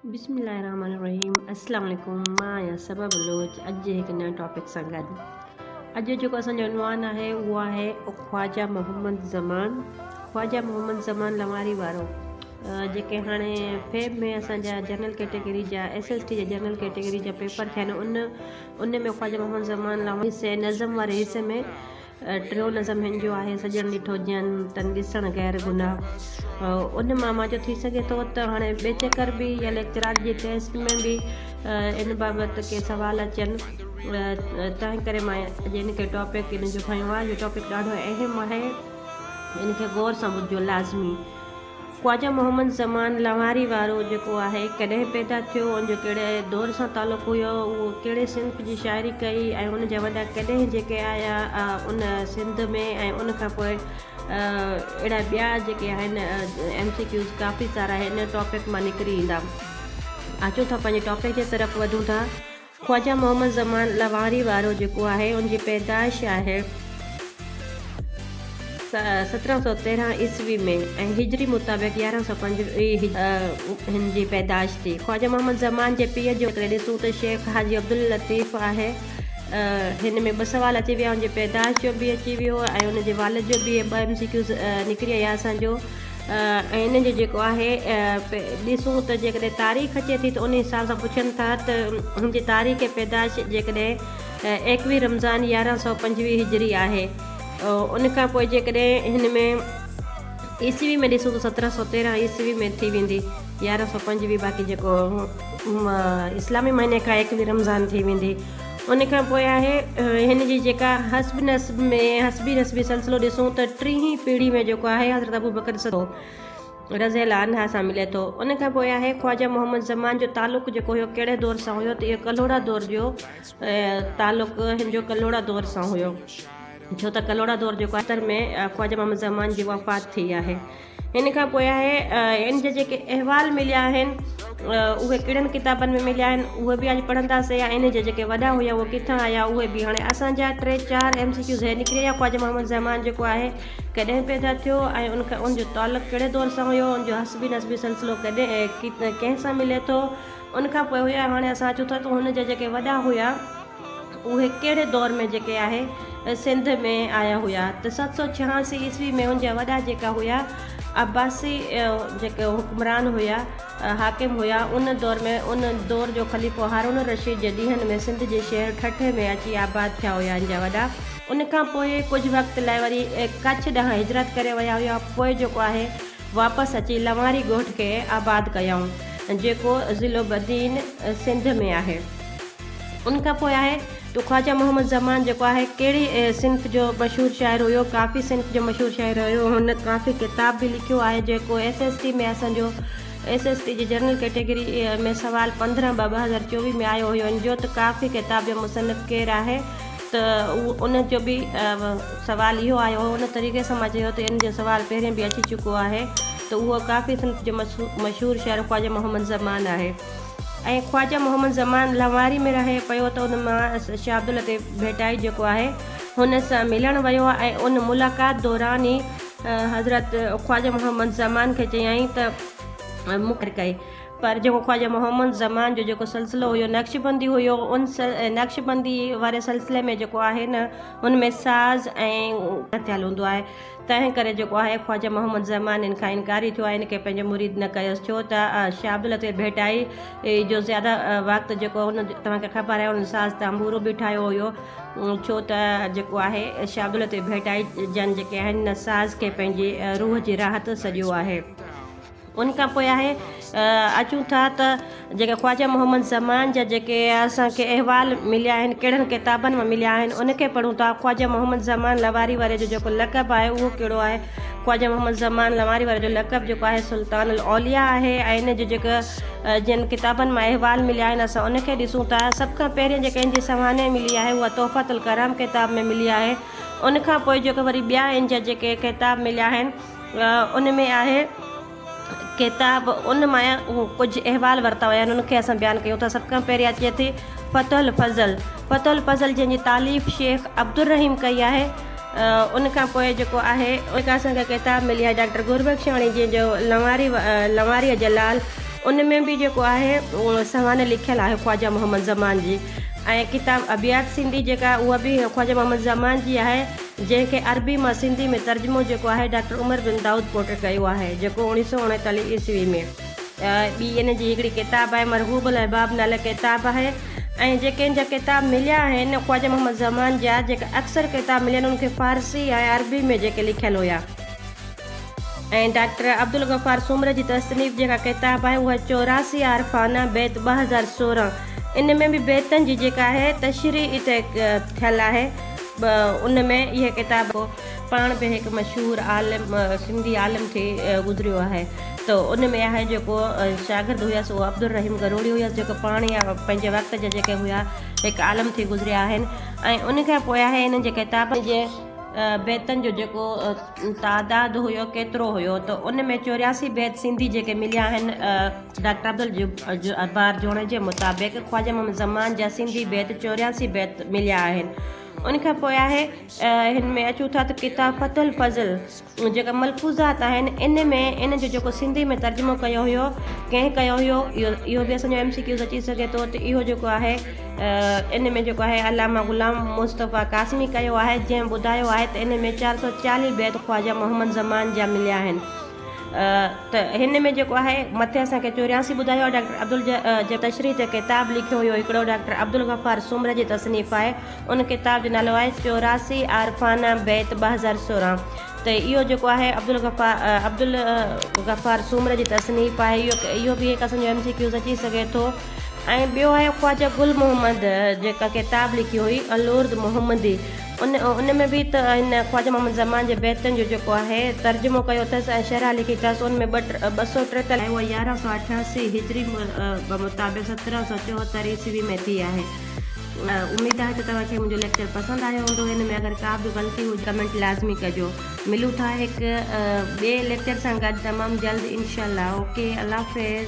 بسم الله الرحمن الرحيم السلام عليڪم مان آهيان صبا بلوچ اڄ جي هڪ نئين ٽاپڪ سان گڏ اڄ جيڪو اسان جو عنوان آهي اهو آهي خواجا محمد زمان خواجا محمد زمان لواري وارو جيڪي هاڻي فيب ۾ اسان جا جنرل ڪيٽيگري جا ايس ايس ٽي جا جنرل ڪيٽيگري جا پيپر ٿيا آهن ان ان ۾ خواجا محمد زمان لواري سي نظم واري حصي ۾ ٽيون نظم هن جو آهي، سڄڻ ڏٺو جئن، تن ڏسڻ غير گناهه. ان مان مان جو ٿي سگهي ٿو ته هاڻي ٻئي چڪر به يا ليڪچرار جي ٽيسٽ ۾ به ان بابت ڪي سوال اچن تنهن ڪري مان اڄ ان کي ٽاپڪ ان جو کنيو آهي. اهو ٽاپڪ ڏاڍو اهم آهي ان کي غور سان ٻڌجو لازمي. خواجه محمد زمان لوهاري وارو جيڪو آهي ڪڏهن پيدا ٿيو ان جو ڪهڙي دور سان تعلق هيو اهو ڪهڙي صنف جي شاعري ڪئي ۽ ان جا وڏا ڪڏهن جيڪي آيا ان سنڌ ۾ ۽ ان کان پوء اهڙا ٻيا جيڪي آهن ايم سي ڪيوز ڪافي سارا هن ٽاپڪ مان نڪري ايندا اچو ٿا پنهنجي ٽاپڪ جي طرف وڌون ٿا. خواجه محمد زمان لوهاري وارو جيڪو آهي ان جي پيدائش آهي سترهن سؤ تيرهن عيسوي ۾ ۽ هجري مطابق يارهن سؤ پنج هن جي پيدائش ٿي خواجه محمد زمان جي پيء جو جيڪڏهن ڏسون ته شيخ حاجي عبداللطيف آهي هن ۾ ٻه سوال اچي ويا ان جي پيدائش جو به اچي ويو ۽ ان جي والد جو به ٻه ايم سي ڪيوز نڪري آيا اسان جو ۽ ان جو جيڪو آهي ڏسون ته جيڪڏهن تاريخ اچي ٿي ته ان حساب سان پڇن ٿا ته هن جي تاريخ پيدائش جيڪڏهن ايڪويهه رمضان يارهن سؤ پنجويهه هجري آهي ان کان پوء جيڪڏهن هن ۾ عيسوي ۾ ڏسون ته سترهن سؤ تيرهن عيسوي ۾ ٿي ويندي يارهن سؤ پنجويهه باقي جيڪو اسلامي مهيني کان ايڪويهه رمضان ٿي ويندي ان کان پوء آهي هن جي جيڪا حسب نسب ۾ حسبي نسبي سلسلو ڏسون ته ٽيهين پيڙهي ۾ جيڪو آهي حضرت ابوبڪر صديق رضي الله عنه سان ملي ٿو ان کان پوء آهي خواجه محمد زمان جو تعلق جيڪو هيو ڪهڙي دور سان هيو ته اهو ڪلهوڙا دور جو تعلق هن جو ڪلهوڙا دور سان هيو ڇو ته ڪلهوڙا دور جيڪو آهي تر ۾ خواجه محمد زمان جي وفات ٿي آهي ان کان پوء آهي ان جا جيڪي احوال مليا آهن اهي ڪهڙن ڪتابن ۾ مليا آهن اهي به اڄ پڙهنداسين يا ان جا جيڪي وڏا هيا اهي ڪٿان آيا اهي به هاڻي اسانجا ٽي چار ايم سي ڪيو ذهن نڪري ويا خواجه محمد زمان جيڪو آهي ڪڏهن پيدا ٿيو ۽ ان کان ان جو تعلق ڪهڙي دور سان هيو ان جو حسبي نسبي سلسلو ڪڏهن ڪنهن سان ملي ٿو ان کان پوء هيا هاڻي اسان اچون ٿا ته هن جا جيڪي وڏا هيا اهي ڪهڙي دور ۾ جيڪي آهي سنڌ ۾ آيا هيا ته ست سو ڇهاسي عيسوي ۾ ان جا وڏا جيڪا هيا عباسي جيڪي حڪمران هيا حاڪم هيا ان دور ۾ ان دور جو خليفو هارون الرشيد جي ڏينهن ۾ سنڌ جي شهر ٺٽي ۾ اچي آباد ٿيا هيا ان جا وڏا ان کان پوء ڪجهه وقت لاء وري ڪڇ ڏانهن هجرت ڪري ويا هيا پوء جيڪو آهي واپس اچي لنواري ڳوٺ کي آباد ڪيائون جيڪو ضلعو بدين سنڌ ۾ آهي. ان کان پوء آهي تو خواجه محمد زمان جيڪو آهي ڪهڙي صنف جو مشهور شاعر هيو ڪافي صنف جو مشهور شاعر هيو هن ڪافي ڪتاب به لکيو آهي جيڪو ايس ايس ٽي ۾ اسان جو ايس ايس ٽي جي جنرل ڪيٽيگري ۾ سوال پندرهن ٻه ٻه هزار چوويهه ۾ آيو هيو ان جو ته ڪافي ڪتاب جو مصنف ڪير آهي ته ان جو به سوال اهو آيو هو ان طريقي سان مان چيو ته ان جو سوال پهرين به اچي چڪو آهي ته اهو ڪافي صنف جو مشهور شاعر خواجه محمد زمان آهي ۽ خواجه محمد زمان لنواري ۾ رهي پيو ته ان مان شاهه عبداللطيف ڀٽائي جيڪو آهي هن سان ملڻ ويو ۽ ان ملاقات دوران ئي حضرت خواجه محمد زمان کي چيائين ته مون کي ڪئي پر جيڪو خواجه محمد زمان جو جيڪو سلسلو هيو نقشبندي هيو ان نقشبندي واري سلسلي ۾ جيڪو آهي نه ان ۾ ساز ۽ ٿيل هوندو آهي تنهن ڪري جيڪو آهي خواجه محمد زمان ان کان انڪاري ٿيو ۽ ان کي پنهنجو مريد نه ڪيس ڇو ته شاهه عبداللطيف ڀٽائي جو زياده وقت جيڪو هن توهان کي خبر آهي هن ساز تنبورو به ٺاهيو هيو ڇو ته جيڪو آهي شاهه عبداللطيف ڀٽائي جن جيڪي آهن ان ساز کي پنهنجي روح جي راحت سڏيو آهي ان کان پوء آهي اچون ٿا ته جيڪي خواجه محمد زمان جا جيڪي اسان کي احوال مليا آهن ڪهڙن ڪتابن ۾ مليا آهن ان کي پڙهون ٿا خواجه محمد زمان لواري واري جو جيڪو لقب آهي اهو ڪهڙو آهي خواجه محمد زمان لواري واري جو لقب جيڪو آهي سلطان الاوليا آهي ۽ ان جو جيڪا جن ڪتابن مان احوال مليا آهن اسان ان کي ڏسون ٿا سڀ کان پهرين جيڪا ان جي سوانح ملي آهي اها تحفت الڪرام ڪتاب ۾ ملي آهي ان کان پوء جيڪا وري ٻيا ان جا جيڪي ڪتاب مليا آهن ان ۾ آهي ڪتاب ان ماء ڪجهه احوال ورتا ويا آهن ان کي اسان بيان ڪيون ٿا سڀ کان پهريان اچي ٿي فتح الفضل فتح الفضل جنهنجي تعليف شيخ عبدالرحيم ڪئي آهي ان کان پوء جيڪو آهي ان کان اسانکي ڪتاب ملي آهي ڊاڪٽر گربخشاڻي جنهن جو لنواري لنواري جلال ان ۾ به جيڪو آهي سوانح لکيل آهي خواجه محمد زمان جي ۽ ڪتاب ابيات سنڌي جيڪا اها به خواجه محمد زمان جي آهي جنهن کي عربي مان سنڌي ۾ ترجمو جيڪو آهي ڊاڪٽر عمر بن دائود پوٽر ڪيو آهي جيڪو اوڻيهه سؤ اڻيتاليهه عيسوي ۾ ٻي ان جي هڪڙي ڪتاب آهي مرغوب الاحباب نالي ڪتاب آهي ۽ جيڪي ان جا ڪتاب مليا آهن خواجه محمد زمان جا جيڪي اڪثر ڪتاب مليا آهن ان کي فارسي ۽ عربي ۾ جيڪي لکيل هيا ۽ ڊاڪٽر عبدالغفار سومري جي تصنيف جيڪا ڪتاب آهي اها چوراسي عارفانه بيت ٻه هزار سورهن ان ۾ به بيتن جي جيڪا آهي تشريح ٿيل آهي به ان ۾ اهي ڪتاب هو پاڻ به هڪ مشهور عالم سنڌي عالم ٿي گذريو آهي ته ان ۾ آهي جيڪو شاگرد هيس اهو عبدالرحيم گروڙي هيس جيڪو پاڻ يا پنهنجي وقت جا جيڪي هيا هڪ عالم ٿي گذريا آهن ۽ ان کان پوء آهي انهن جي ڪتابن جي بيتن جو جيڪو تعداد هيو ڪيترو هيو ته ان ۾ چورياسي بيت سنڌي جيڪي مليا آهن ڊاڪٽر عبدالجبار جوڻيجي مطابق خواجه محمد زمان جا سنڌي بيت چورياسي بيت مليا آهن ان کان پوء آهي هن ۾ اچون ٿا ته ڪتاب فتح الفضل جيڪا ملفوظات آهن ان ۾ ان جو جيڪو سنڌي ۾ ترجمو ڪيو هيو ڪنهن ڪيو هيو اهو اهو بي اسان جو ايم سي ڪيوز اچي سگهي ٿو ته اهو جيڪو آهي ان ۾ جيڪو آهي علامه غلام مصطفيٰ قاسمي ڪيو آهي جنهن ٻڌايو آهي ته ان ۾ چار سو چاليهه بيت خواجه محمد زمان جا مليا آهن ته هن ۾ جيڪو آهي مٿي اسان کي چورياسي ٻڌايو آهي ڊاڪٽر عبدل جي تشريح تي ڪتاب لکيو هيو هڪڙو ڊاڪٽر عبدالغفار سومره جي تصنيف آهي ان ڪتاب جو نالو آهي چوراسي عارفانه بيت ٻه هزار سورهن ته اهو جيڪو آهي عبدالغفار عبدالغفار سومره جي تصنيف آهي اهو اهو به هڪ اسان جو ايم سي ڪيوز اچي سگهي ٿو ۽ ٻيو آهي خواجه گل محمد جيڪا ڪتاب لکي هئي الورد محمدي ان ان ۾ به ته هن خواجه محمد زمان جي بيتن جو جيڪو آهي ترجمو ڪيو اٿس ۽ شرح لکي اٿس ان ۾ ٻه سؤ ٽيتاليهه ۽ اها يارهن سؤ اٺاسي هجري مطابق سترهن سؤ چوهتر عيسوي ۾ ٿي آهي اميد آهي ته توهان کي منهنجو ليڪچر پسند آيو هوندو ان ۾ اگر ڪا به غلطي هجي ڪمينٽ لازمي ڪجو ملون ٿا هڪ ٻئي ليڪچر سان گڏ تمام جلد انشاء الله اوڪي الله حافظ.